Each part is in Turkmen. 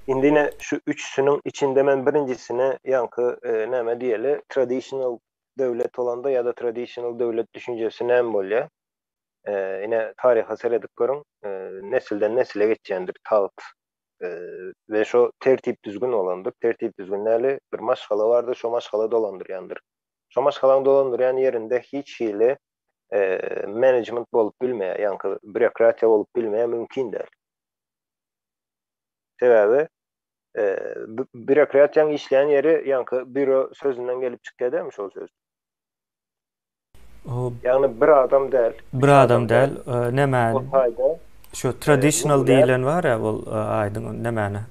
Indi ine şu üçüsiniň içinde men birinjisine ýaňky näme diýeli traditional döwlet bolanda ýa-da traditional döwlet düşünjesi näme bolýar? Ine taryha seredip görüň, nesilden nesile geçýändir tagt we şo tertip-düzgün bolandyr. Tertip-düzgün näli? Bir maşgala bardyr, şo maşgala dolandyrýandyr. Şo maşgalaň dolandyrýan ýerinde hiç hili management bolup bilmeýär, ýaňky býurokratiýa bolup bilmeýär, mümkin däl. Sebäbi býurokratiýaň işleýän ýeri ýaňky býuro sözünden gelip çykýar dälmi şol söz? Ýagny bir adam däl. Bir adam däl. Näme? Ol taýda şu traditional diýilen bar-a ol aýdyň nämäni?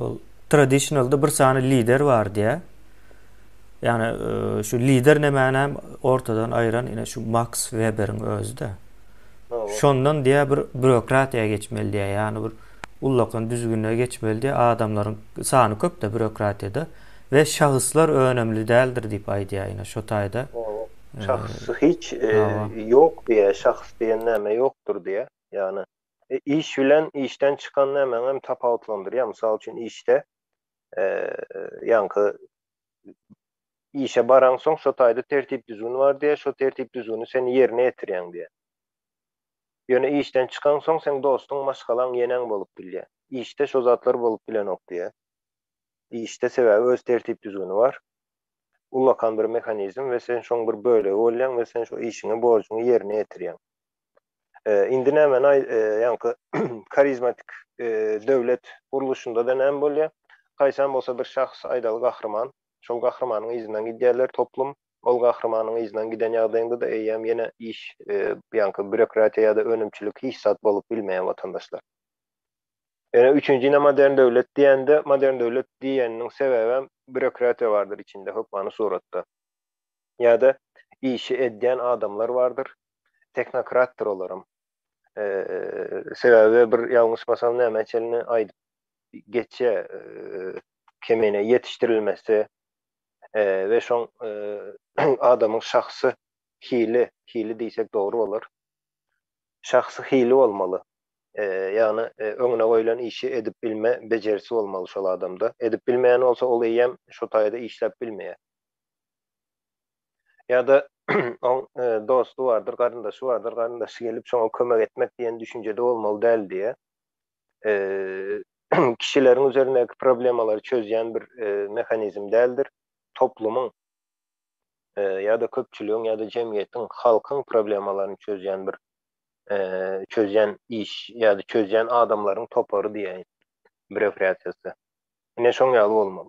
Ol traditional-da bir sany lider bar diýýär. Ýagny şu lider nämäni hem ortadan aýyran ine şu Maks Weberiň özi-de. Şondan diýýär bir býurokratiýa geçmeli diýýär. Ýagny bir ullakan düzgüne geçmeli diýýär. Adamlaryň sany köp-de býurokratiýada we şahyslar önümli däldir diýip aýdýar ine şo taýda. Şahys hiç ýok diýýär. Şahys diýen näme ýokdur diýýär. Ýagny iş bilen işden çykan nämäňem tapawutlandyrýar. Mysal üçin işde ýaňky işe baraňsoň şo taýda tertip-düzgün bar diýýär, şo tertip-düzgüni sen ýerine ýetirýäň diýýär. Ýöne işden çykaňsoň seň dostuň, maşgalaň, ýeneň bolup bilýär. Işde şo zatlar bolup bilenok diýýär. Işde sebäbi öz tertip-düzgüni bar. Ullakan bir mehanizm we sen şoň bir bölegi bolýaň we sen şo işiňi, borjuňy ýerine ýetirýäň. Indi nämeni aý, ýaňky karizmatik döwlet gurluşynda-da näme bolýar? Haýsam bolsa bir şahs aýdaly gahryman, şol gahrymanyň yzyndan gidýärler toplum, ol gahrymanyň yzyndan giden ýagdaýyňda-da eýýäm ýene iş, ýaňky býurokratiýa ýa-da önümçilik hiç zat bolup bilmeýär watandaşlar. Ýöne üçünji ine modern döwlet diýende, modern döwlet diýeniniň sebäbem býurokratiýa bardyr içinde hökmany suratda. Ýa-da işi edýän adamlar bardyr, tehnokratdyr olaram. Sebäbi bir ýalňyşmasam näme çenli aýdyp geçýär, kemine ýetişdirilmesi we şoň adamyň şahsy hili, hili diýsek dogry bolar, şahsy hili bolmaly, ýagny öňüne goýlan işi edip bilme bejerisi bolmaly şol adamda. Edip bilmeýän bolsa ol eýýäm şo taýda işläp bilmeýär. Ýa-da oň dosty bardyr, garyndaşy bardyr, garyndaşy gelip şoňa kömek etmek diýen düşünjede bolmaly däl diýýär. Kişileriň üzerindäki problemalary çözýän bir mehanizm däldir. Toplumyň ýa-da köpçüligiň ýa-da jemgyýetiň, halkyň problemalaryny çözýän bir çözýän iş ýa-da çözýän adamlaryň topary diýäýin, brewriasiýasy. Ine şoň ýaly bolmaly.